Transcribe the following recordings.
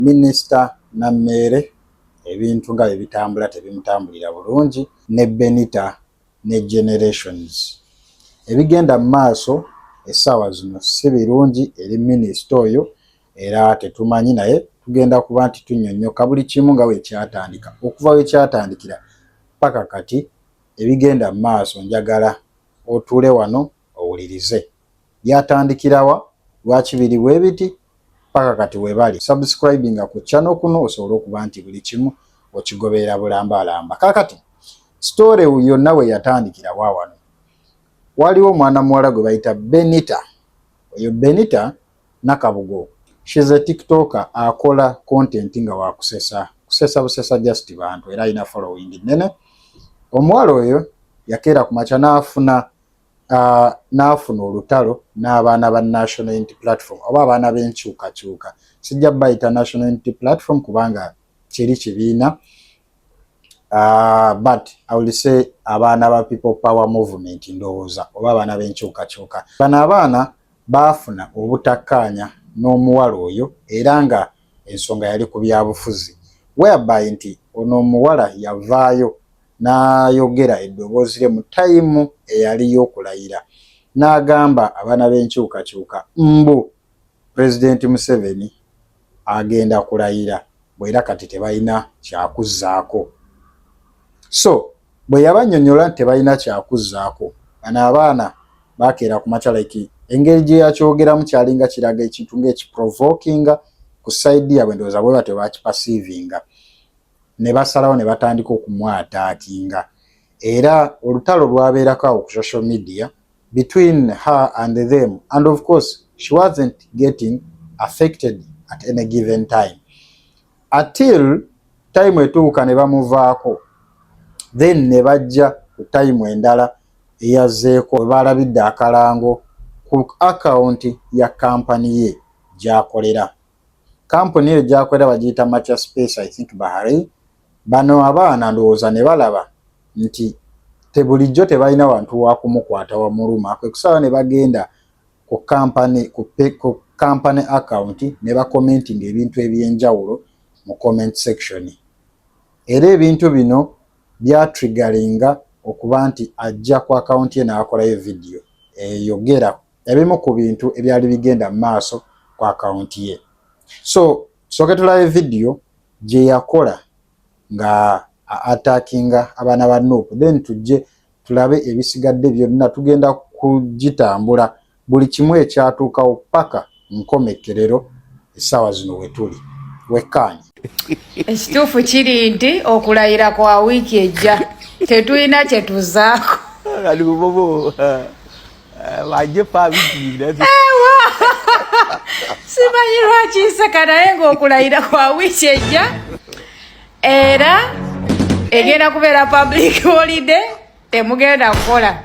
Minisita Nameere ebintu nga bwe bitambula tebimutambulira bulungi ne Benita ne Generations. Ebigenda mu maaso essaawa zino si birungi eri minisita oyo era tetumanyi naye tugenda kuba nti tunnyonnyoka buli kimu nga bwe kyatandika okuva we kyatandikira paka kati ebigenda mu maaso njagala otuule wano owulirize. byatandikirawa lwaki biri bwebiti paka kati webali subscribinga ku channel kuno osobole okuba nti buli kimu okigoberera bulambalamba kakati story yonna we yatandikira wawano waliwo omwana muwala gwe bayita benita oyo benita nakabugo shes a tiktoka akola content nga wakusesa kusesa busesa just bantu era alina following nene omuwala oyo yakeera ku makya n'afuna uh, n'afuna olutalo n'abaana ba National Unity Platform oba abaana b'enkyukakyuka. Sijja bayita National Unity Platform kubanga kiri kibiina uh, but I will say abaana ba People Power Movement ndowooza oba abaana b'enkyukakyuka. Bano abaana baafuna obutakkaanya n'omuwala oyo era nga ensonga yali ku byabufuzi whereby nti ono omuwala yavaayo N'ayogera eddoboozi lye mu ttayimu eyali y'okulayira n'agamba abaana b'enkyukakyuka mbu Pulezidenti Museveni agenda kulayira bwe era kati tebalina kyakuzzaako. So bwe yabannyonnyola nti tebalina kyakuzzaako, bano abaana baakeera ku makya like engeri gye yakyogeramu kyalinga kiraga ekintu ng'ekiprovokinga ku sayidi yaabwe, ndowooza bwe batyo baakipasiivinga. ne basalawo ne batandika okumwataakinga era olutalo lwabeerako awo ku social media between her and them and of course she wasn't getting affected at any given time until time etuuka ne bamuvaako then ne bajja ku time endala eyazzeeko we baalabidde akalango ku akawunti ya kampani ye gy'akolera. Kampuni eyo gyakolera bagiyita Macha Space I think Bahrain. Bano abaana ndowooza ne balaba nti tebulijjo tebalina wantu wakumukwata wamuluma kwe kusala ne bagenda ku kampani ku kampani account ne bakomentinga ebintu eby'enjawulo mu comment section. Era ebintu bino byatrigalinga okuba nti ajja ku akawunti ye n'akolayo vidiyo eyogera ebimu ku bintu ebyali bigenda mu maaso ku akawunti ye so soke tulabe vidiyo gye yakola nga atakinga abaana ba nuupu then tujje tulabe ebisigadde byonna tugenda kugitambula buli kimu ekyatuukawo paka nkomekkerero essaawa zino wetuli wekkaanyi ekituufu kiri nti okulayira kwa wiiki ejja tetulina kyetuzaako simanyi lwaki nseka naye ng'okulayira kwa wiiki ejja era egenda kubeera public holiday temugenda kukola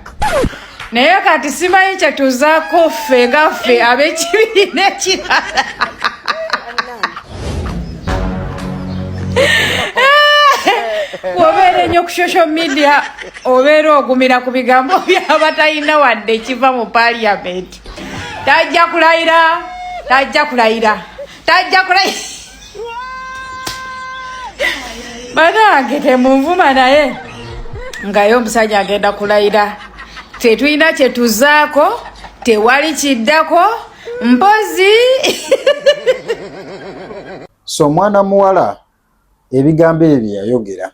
naye kati simanyi kyetuzako ffe nga ffe ab'ekibiina ekirala wobeera ennyo ku social media obeera ogumira ku bigambo byabatalina wadde ekiva mu paliamenti tajja kulayira tajja kulayira tajja kulayira banange temunvuma naye ngaye omusajja agenda kulayira tetulina kyetuzaako tewali kiddako mpozi so omwana muwala ebigambo ebyo yayogera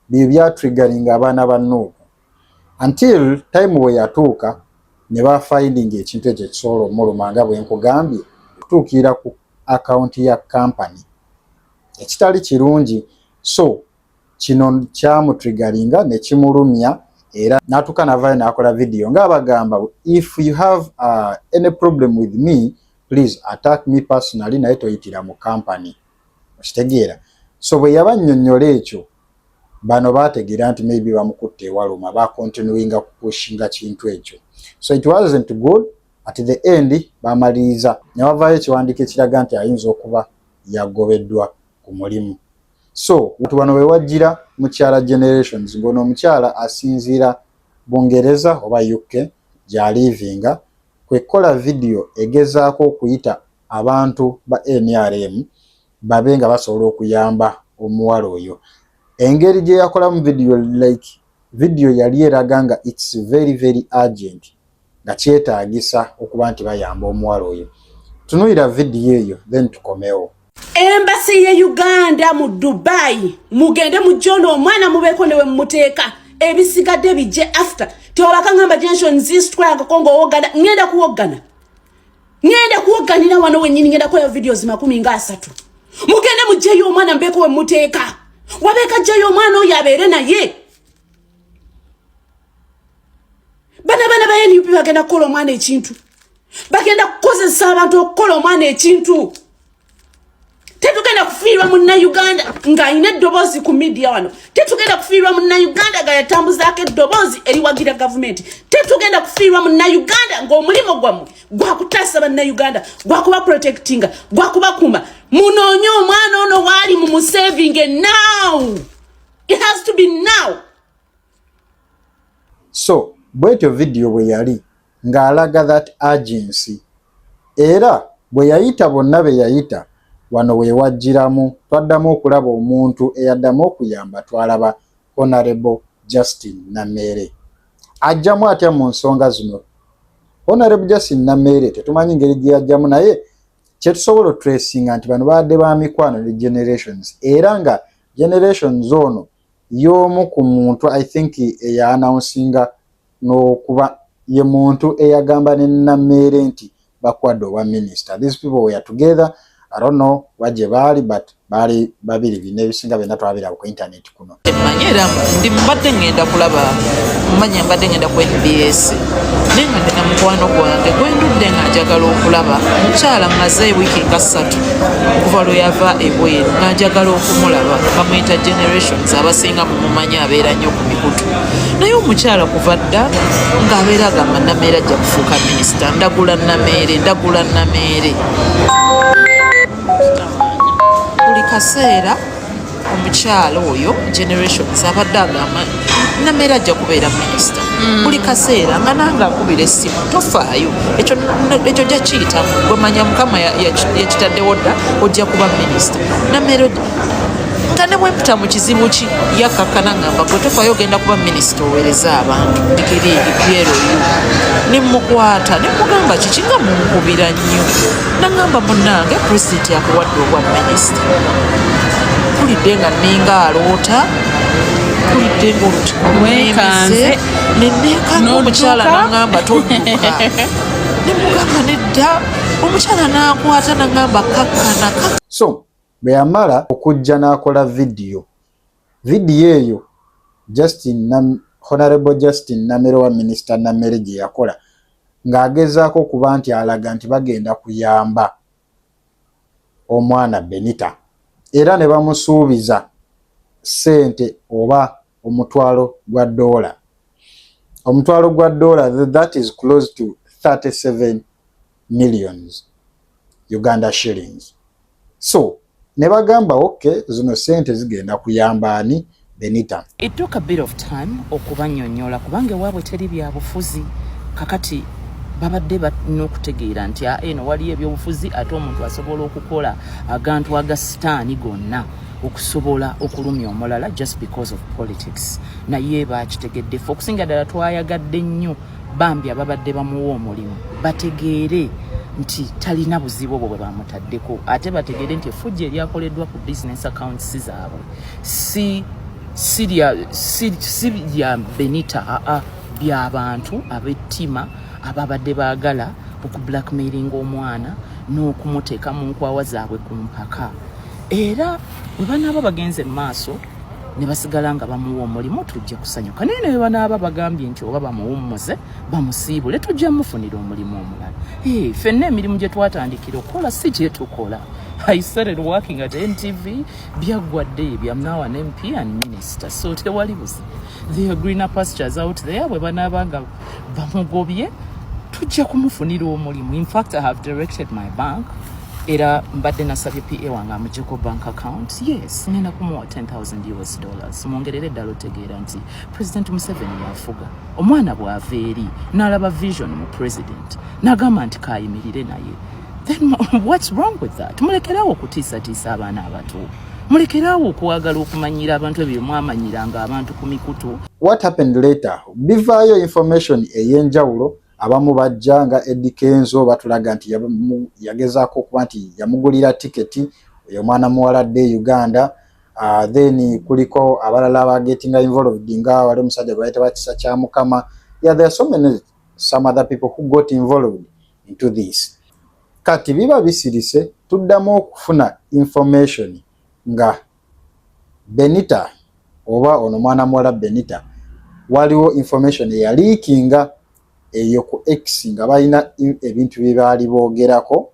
bye byatriggeringa abaana ba Nuuhu until time bwe yatuuka ne ba finding ekintu ekyo ekisobola omuluma nga bwe nkugambye okutuukirira ku akawunti ya kampani ekitali kirungi so kino kyamutriggeringa ne kimulumya era n'atuuka n'avaayo n'akola vidiyo ng'abagamba if you have uh, any problem with me please attack me personally naye toyitira mu kampani okitegeera so bwe yabanyonyola ekyo bano baategeera nti maybe bamukutte ewaluma bacontinuinga kupushinga kintu ekyo so it wasn't good at the end bamaliriza ne wavaayo ekiwandiiko ekiraga nti ayinza okuba yagobeddwa ku mulimu so watu bano we wajjira mukyala generations ng'ono omukyala asinziira bungereza oba uk gyaliivinga kwe kukola vidiyo egezaako okuyita abantu ba nrm babe nga basobola okuyamba omuwala oyo engeri gye yakolamu vidiyo like vidiyo yali eraga nga its very very urgent nga kyetaagisa okuba nti bayamba omuwala oyo tunuyira vidiyo eyo then tukomewo embasi ye uganda mu dubai mugende mujona omwana mubeeko newe mumuteeka ebisigadde bijje after tewabakangamba jenso nzistwayagako ngaowogana ngenda kuwoggana ngenda kuwoganira wano wenyini ngenda kukola videos makumi nga asatu mugende mujjeyo omwana mbeeko we muteeka wabeeka jjeyo omwana oyo abeere naye bana bana ba nup bagenda kukola omwana ekintu bagenda kukozesa abantu okukola omwana ekintu tetugenda kufiirwa munnayuganda ng'alina eddoboozi ku midiya wano tetugenda kufiirwa munnayuganda nga yatambuzaako eddoboozi eriwagira gavumenti tetugenda kufiirwa munnayuganda ng'omulimu gwammwe gwakutaasa bannayuganda gwakuba protectinga gwakubakuuma munoonye omwana ono waali mu musaving now it has to be now so bwetyo vidiyo bwe yali ng'alaga that urgency era bwe yayita bonna be yayita wano we wajjiramu twaddamu okulaba omuntu eyaddamu okuyamba twalaba Honourable Justine Nameere. Ajjamu atya mu nsonga zino? Honourable Justine Nameere tetumanyi ngeri gye yajjamu naye kyetusobola oturesinga nti bano baadde ba mikwano ne generations era nga generations ono y'omu ku muntu i think eyaanawunsinga nokuba ye muntu eyagamba ne Nameere nti bakwade owa minister these people were together I don't know wa gye baali but baali babiri bina ebisinga byonna twabiraba ku internet kuno mmanyi era ndi mbadde ngenda kulaba mmanyi mbadde ngenda ku nbs naye nga ndina mukwano gwange gwendudde nga njagala okulaba mukyala maze wiiki nga ssatu okuva lwe yava ebweru nga njagala okumulaba bamuyita generations abasinga mumumanyi abeera nnyo ku mikutu naye omukyala kuva dda ng'abeera agamba nameere ajja kufuuka minisita ndagula nameere ndagula nameere buli kaseera omukyala oyo generations abadde agamba nameere ajja kubeera minisita mm. buli kaseera nga nange akubira essimu tofaayo ekyo jakiyitamu gwemanya mukama yakitaddewo dda ojja kuba minisita nameere nga ne bwe mputa mu kizibu ki yakkakkana ngamba gwe tofayo ogenda kuba minisita owereza abantu digiri ebyero yo ne mukwata ne mugamba kiki nga munkubira nnyo nangamba munange pulezidenti akuwadde obwa minisita mpulidde nga ninga aloota mpulidde ngaolutuwekanze neneekanga omukyala nangamba todduka ne mugamba nedda omukyala nakwata nangamba kakkana so Bwe yamala okujja n'akola vidiyo. Vidiyo eyo Justin Nam, Honourable Justin Namere oba Minisita Namere gye yakola ng'agezaako okuba nti alaga nti bagenda kuyamba omwana Benita era ne bamusuubiza ssente oba omutwalo gwa doola omutwalo gwa doola that is close to 37 millions uganda shillings so ne bagamba okay zino sente zigenda kuyamba ani benita it took a bit of time okubanyonyola kubanga ewaabwe teri byabufuzi kakati babadde balina okutegeera nti aeno ah, waliyo ebyobufuzi ate omuntu asobola okukola agantu aga sitaani gonna okusobola okulumya omulala just because of politics naye bakitegedde fe okusinga ddala twayagadde nnyo bambi ababadde bamuwa omulimu bategeere nti talina buzibu obwo bwe bamutaddeko ate bategeere nti efujja eryakoleddwa ku business accounts zaabwe si sirya sirya benita aa byabantu abettima ababadde baagala okublackmailinga omwana n'okumuteeka mu nkwawa zaabwe ku mpaka era bwe banaaba bagenze mu maaso ne basigala nga bamuwa omulimu tujja kusanyuka naye naye banaaba bagambye nti oba bamuwummuze bamusiibule tujja mufunira omulimu omulala ee fenna emirimu gye twatandikira okukola si gyetukola i started working at ntv byaggwadde ebya now an mp and minister so tewali buzi the greener pastures out there bwe banaaba nga bamugobye tujja kumufunira omulimu in fact i have directed my bank era mbadde nasabye pa wange amujeko bank account yes ngenda kumuwa 10000 us dollars mwongerere eddala otegeera nti president museveni yafuga omwana bwava eri n'alaba vision mu president n'agamba nti kayimirire naye then what's wrong with that mulekerawo okutiisatiisa abaana abato mulekerawo okwagala okumanyira abantu ebyo mwamanyiranga abantu ku mikutu what happened later bivaayo information ey'enjawulo Abamu bajja nga Eddy Kenzo batulaga nti yagezaako okuba nti yamugulira tiketi oyo omwana muwala adde e Uganda. Uh, then kuliko abalala abagetinga involved nga wali omusajja gwe bayita bakisa kya mukama yeah, there are so many some other people who got involved into this kati biba bisirise tuddamu okufuna information nga Benita oba ono mwana muwala Benita waliwo information eyaliikinga eyo ku X nga balina ebintu bye baali boogerako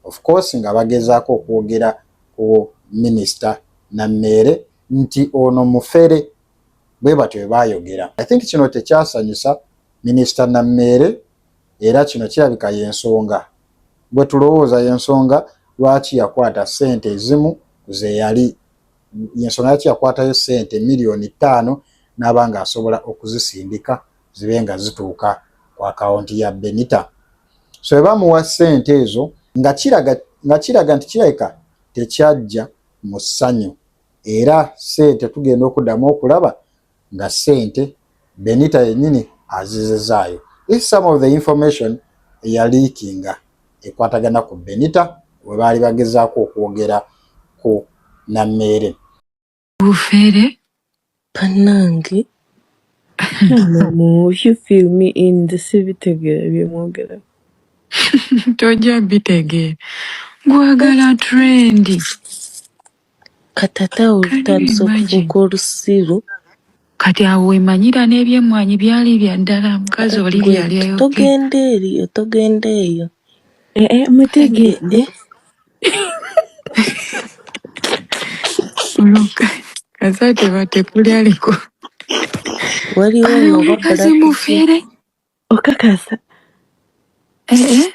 of course nga bagezaako okwogera ku minisita Nammeere nti ono mufere bwe batyo bwe baayogera. I think kino tekyasanyusa minisita Nammeere. Era kino kirabika y'ensonga, bwe tulowooza, y'ensonga lwaki yakwata ssente ezimu ku ze yali, y'ensonga lwaki yakwatayo ssente miliyooni ttaano n'aba ng'asobola okuzisindika zibe nga zituuka ku akawunti ya Benita. So bwe bamuwa ssente ezo, nga kiraga, nga kiraga nti kirabika tekyajja mu ssanyu. Era ssente tugenda okuddamu okulaba nga sente Benita yenyini azizizaayo if some of the information eyaliikinga ekwatagana ku Benita webaali bagezaako okwogera ku Nammeere. Bufere banange if you feel me in the sibitegera byemwogera tojja bitegeera gwagala trendi Katata awo lutandise okufuuka olusiru. Kati awo wemanyira n'ebyemmwanyi byali bya ddala mukazi oli byeyali ayogedde. Togenda eriyo togenda eyo. Eh, eh, mutegedde Oloka kaza tebatekuli aliko Waliwo ayo ono oba omukazi black ki? mufere okakasa Eh, eh,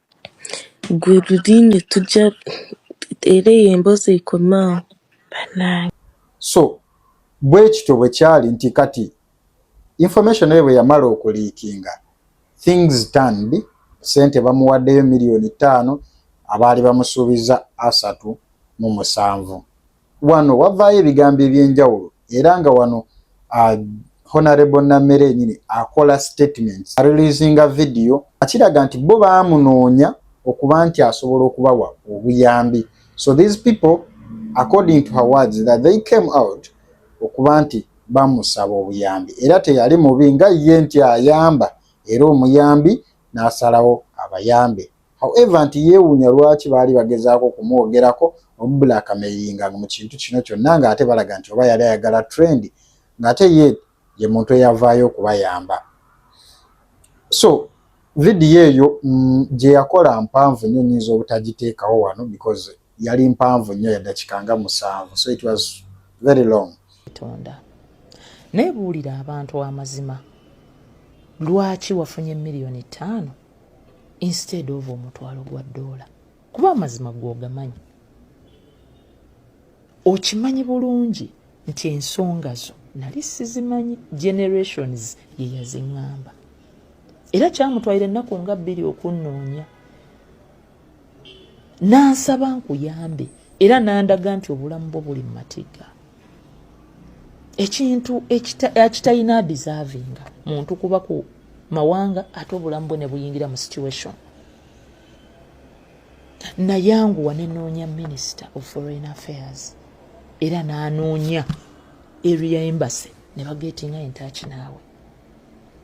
Gwe lulinya tujja era eyo emboozi ekomaawo banange. So bwekityo bwekyali nti kati information eyo bweyamala okuliikinga things turned, sente bamuwaddeyo million ttaano abaali bamusuubiza asatu mu musanvu. Wano wavaayo ebigambo eby'enjawulo era nga wano uh, Honorable Nammere yenyini akola statements areleasinga video akiraga nti bo baamunoonya okuba nti asobola okubawa obuyambi so these people according to her words that they came out okuba nti bamusaba obuyambi era teyali mubi nga ye nti ayamba era omuyambi n'asalawo abayambe however nti yeewuunya lwaki baali bagezaako okumwogerako omubulakameyiringa mu kintu kino kyonna ng'ate balaga nti oba yali ayagala trend ng'ate ye ye muntu eyavaayo okubayamba so vidiyo eyo mm, gye yakola mpanvu nnyo nyinza obutagiteekawo wano because yali mpanvu nnyo yadakika nga musanvu so it was very long tonda naye buulira abantu amazima lwaki wafunye miliyoni ttaano instead of omutwalo gwa doola kuba amazima gwogamanyi okimanyi bulungi nti ensonga zo nali sizimanyi generations yeyaziŋŋamba era kyamutwalira ennaku nga bbiri okunnoonya n'ansaba nkuyambe era n'andaga nti obulamu bwo buli mu matigga ekintu ekitalina deservinga muntu kuba ku mawanga ate obulamu bwe ne buyingira mu situation nayanguwa nenoonya minister of foreign affairs era n'anoonya area embassy ne bageetinga entaki naawe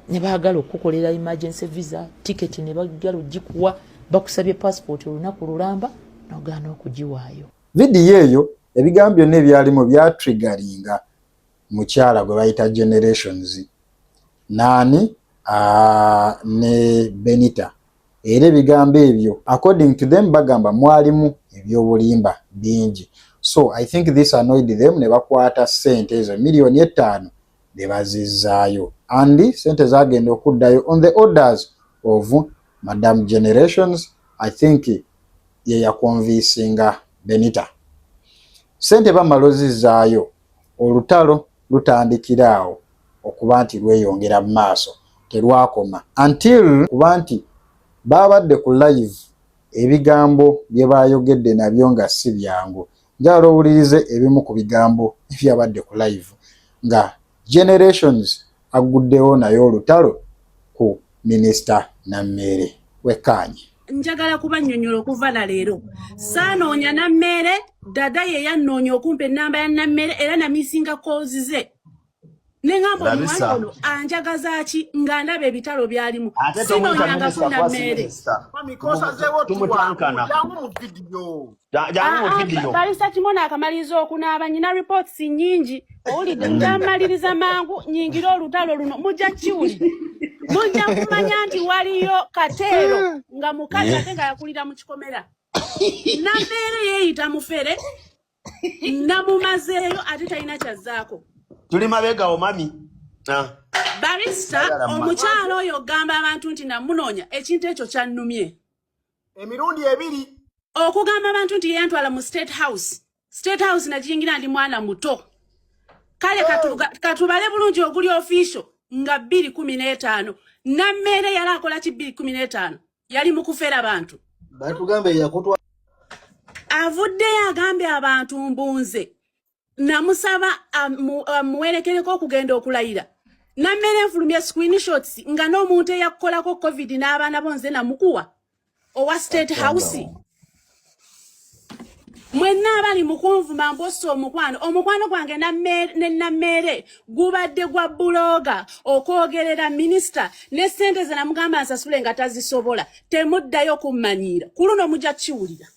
ne baagala okukukolera emergency visa ticket ne bagala ogikuwa bakusabye passport olunaku lulamba nogaana okugiwaayo vidiyo eyo ebigambo byonna ebyalimu byatrigaringa mukyala gwe bayita generations naani ne benita era ebigambo ebyo according to them bagamba mwalimu ebyobulimba bingi so i think this annoyed them ne bakwata sente ezo miliyoni ettaano ne bazizzaayo and sente zagenda okuddayo on the orders of madam generations i think yeyakonvisinga benita sente bamala ozizzaayo olutalo lutandikira awo okuba nti lweyongera mu maaso terwakoma until kuba nti baabadde ku live ebigambo bye baayogedde nabyo nga si byangu Njagala owulirize ebimu ku bigambo ebyabadde ku live nga Generations agguddewo naye olutalo ku minisita Nammeere. Wekkaanye. njagala kubanyonyola okuva na leero saanoonya nammeere dada ye yannoonya okumpa ennamba ya nammeere era namisinga koozi ze ne ngamba omuwala ono anjagaza ki nga ndaba ebitalo byalimu sinoonyangako na mmeere balisa kimona akamaliriza okunaaba nyina reports nyingi owulidde njamaliriza mangu nyingira olutalo luno mujja kiwuli mujja kumanya nti waliyo kateero nga mukazi ate nga yakulira mu kikomera nabeere yeeyita mufere namumazeeyo ate talina kyazzaako tuli mabegawo mami ah. barista omukyalo oyo ogamba abantu nti namunoonya ekintu ekyo kyannumye emirundi ebiri okugamba abantu nti yeyantwala mu state house state house nakiyingira ndi mwana muto kale oh. katubale bulungi oguli official nga bbiri kumi n'etaano nammeere yali akola ki bbiri kumi n'etaano yali mukufera bantu batugambe yakutwa avuddeyo agambye abantu mbunze namusaba amuwerekereko okugenda okulayira nammere nfulumya screenshots nga n'omuntu eyakukolako covid n'abaana bo nze namukuwa owa state house mwenna abali mukunvuma mposa omukwano omukwano gwange ne nammeere gubadde gwa bulooga okwogerera minisita ne ssente ze namugamba nsasule nga tazisobola temuddayo kummanyiira ku luno mujja kiwulira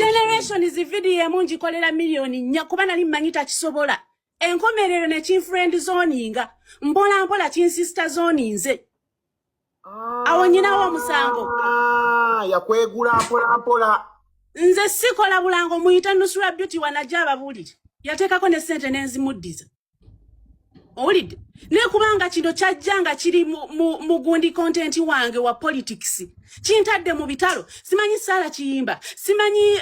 generations vidiyo emu ngikolera miliyoni nnya kuba nali mmanyi takisobola enkomerero ne kinfriend zoninga mpola mpola kinsista zoninze awo nyinawo omusango ah, yakwegula mpola mpola nze sikola bulango muyita nusula beauty wanaja ababulire yateekako ne sente nenzimuddiza owulidde naye kubanga kino kyajja nga kiri mugundi content wange wa politics kintadde mu bitalo simanyi saala kiyimba simanyi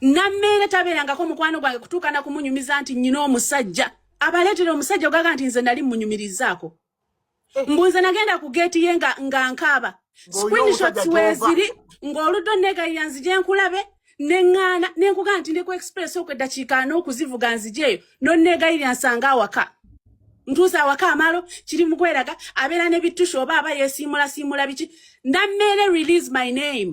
nammeere tabeerangako mukwano gwange kutuuka na kumunyumiza nti nyina omusajja abaleetera omusajja ogaga nti nze nali munyumirizaako eh. mbu nze nagenda ku geeti ye nga nkaaba screenshots weeziri ng'oludde onneegayira nzije nkulabe neŋŋaana ne nkugaa nti ndeku express okw eddakiika n'okuzivuga nzije eyo nonneegayirira nsanga awaka ntuusa awaka amalo kiri mukweraga abeera ne bittusha oba aba yeesiimulasiimula biki nammeere release my name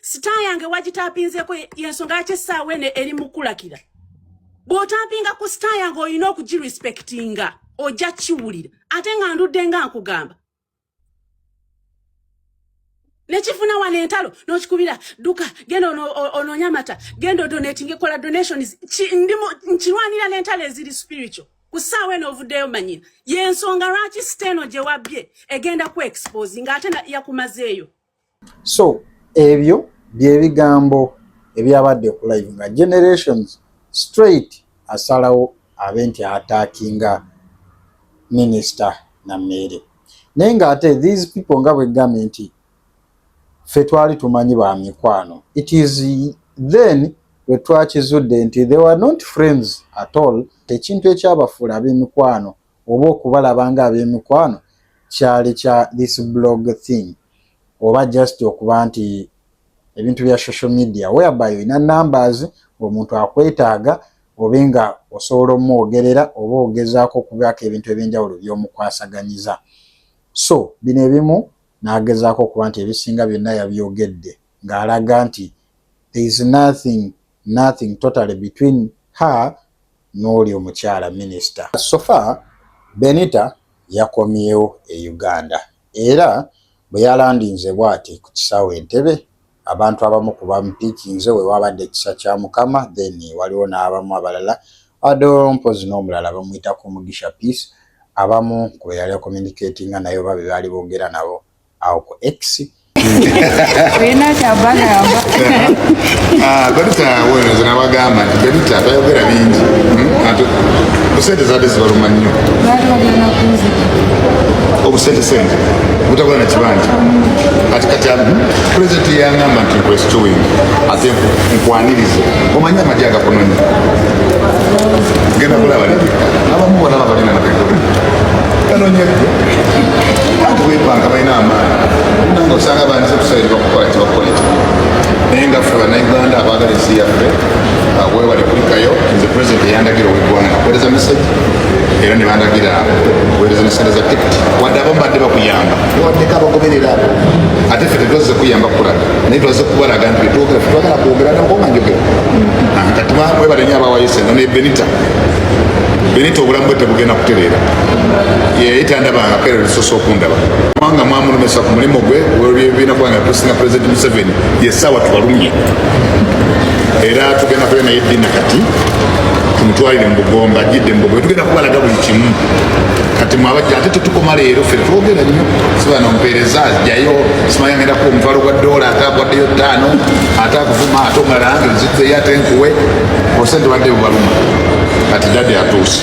sita yange wagitapinzeko yensonga yaki essaawa eno eri mukulakira bw'otampinga ku sita yange olina okugirespektinga ojja kiwulira ate nga ndudde nga nkugamba nekifuna wano entalo nokikubira duka genda onoonya amata genda odonatinga ekola donations nkirwanira n'entalo eziri spiritual ku ssaawa eno ovuddeyo manyira yensonga lwaki sita eno gye wabbye egenda ku expose nga ate yakumazeeyo so ebyo byebigambo ebyabadde ku live nga generations straight asalawo abe nti atakinga minisita nameere naye nga ate these people nga bwegambye nti ffe twali tumanyi ba mikwano it is then lwe twakizudde nti they were not friends at all ekintu ekyabafuula ab'emikwano oba okubalaba nga abemikwano kyali kya this blog thing oba just okuba nti ebintu bya social media whereby olina numbers omuntu akwetaaga obe nga osobola omwogerera oba ogezaako okubaako ebintu ebyenjawulo byomukwasaganyiza so bino ebimu nagezaako okuba nti ebisinga byonna yabyogedde ng'alaga nti there is nothing nothing totally between her n'oli omukyala minisita. So far Benita yakomyewo e Uganda era bwe yalandinze bwati ku kisaawe Entebbe, abantu abamu ku bamupiikinze we waabadde ekisa kya Mukama then waliwo n'abamu abalala ado mpozi n'omulala bamuyitako Mugisha Peace abamu ku be yali akominikeetinga naye oba be baali boogera nabo awo ku x olina kyabagamba ah, berita wenezo nabagamba nti berita tayogera bingi busente hmm? zade zibaluma nnyo obusente sente butakola na kibanja kati kati pulezidenti yangamba nti nkwesitoing ate nkwanirize omanyi amagye agakunonyi genda kulaba abamu bona babalina nabegole kanonyeko bantu bebanga balina amaanyi nanga osanga bandize tusabire bakukola tebakola ekyo naye nga ffe banauganda abaagala ensi yaffe webale kulikayo nze president eyandagira owegwanga nakuwereza message era nebandagira kuwereza nesente za tikiti wadde abamu badde bakuyamba waddeko abagoberera abo ate ffe tetwazze kuyamba kulaga naye twazze kubalaga nti betwogera fe twagala kwogera nakonga njogera kati mwebale nyo abawayo sente ne benita benita obulamu bwe tebugenda kutereera yeyali tandabanga kera lusosa okundaba kubanga mwamulumesa ku mulimu gwe olwebibiina kubanga tusinga pulezidenti museveni yesaawa tubalumye era tugenda kuyo naye dina kati tumutwalire mu bugomba ajjidde mu bugomba tugenda kubalaga buli kimu kati mwabajja ate tetukoma leero fe twogera nnyo sibana omupeereza ajjayo simanya ngenda kuba omutwalo gwa doola ate agwaddeyo ttaano ate akuvuma ate omulala nge nzitzeyo ate nkuwe osente badde bubaluma kati dade atuuse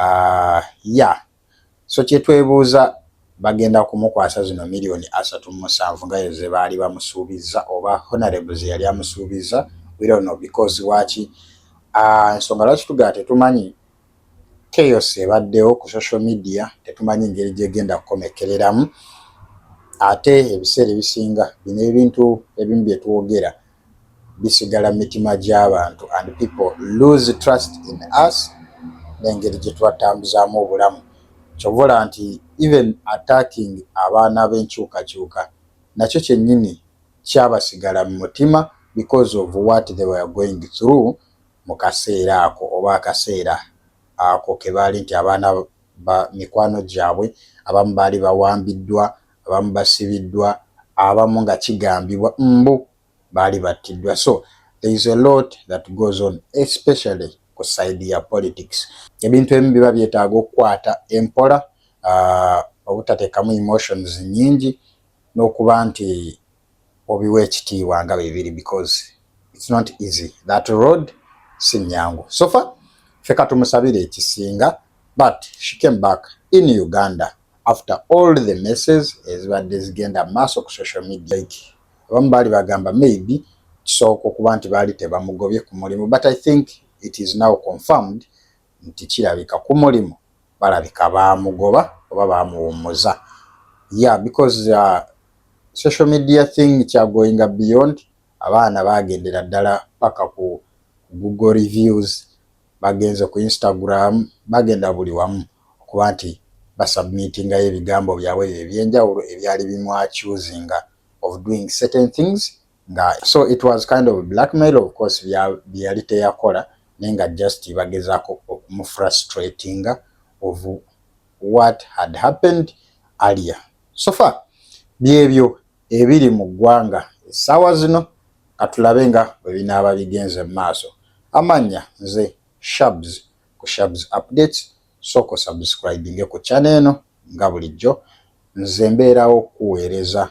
Ah, ya so kyetwebuuza bagenda kumukwasa zino miliyoni asatu musanvu nga ze baali bamusuubizza oba honorable ze yali amusuubizza we don't know because waki ah, nsonga lwaki tugaa tetumanyi Chaos ebaddewo ku social media tetumanyi ngeri gyegenda kukomekkereramu ate ebiseera ebisinga bino ebintu ebimu bye twogera bisigala mu mitima gy'abantu and people lose trust in us n'engeri gye twatambuzaamu obulamu kyova olaba nti even attacking abaana b'enkyukakyuka nakyo kyennyini kyabasigala mu mutima because of what they were going through mu kaseera ako oba akaseera ako ke baali nti abaana ba mikwano gyabwe abamu baali bawambiddwa, abamu basibiddwa, abamu nga kigambibwa mbu baali battiddwa so there is a lot that goes on especially ku side ya politics. Ebintu ebimu biba byetaaga okukwata empola, uh, obutateekamu emotions nyingi n'okuba nti obiwa ekitiibwa nga bebiri because it's not easy that road si nyangu sofa ffe katumusabire ekisinga but she came back in uganda after all the messes ezibadde zigenda maaso ku social media like abamu baali bagamba maybe kisooka okuba nti baali tebamugobye ku mulimu but i think it is now confirmed nti kirabika kumulimu balabika baamugoba oba baamuwummuza ya because uh, social media thing kyagoinga beyond abaana baagendera ddala paka ku google reviews bagenze ku instagram bagenda buli wamu okuba nti basubmitingayo ebigambo byabwe ebyo ebyenjawulo ebyali bimwacusinga of doing certain things nga so it was kind of blackmail of course byeyali teyakola naye nga just bagezako okumufrustratinga of what had happened alia so far byebyo ebiri mu ggwanga essaawa zino katulabe nga bwe binaaba bigenze mu maaso amannya nze shabs ku shabs updates soko subscribinge ku chana eno nga bulijjo nze mbeerawo kuweereza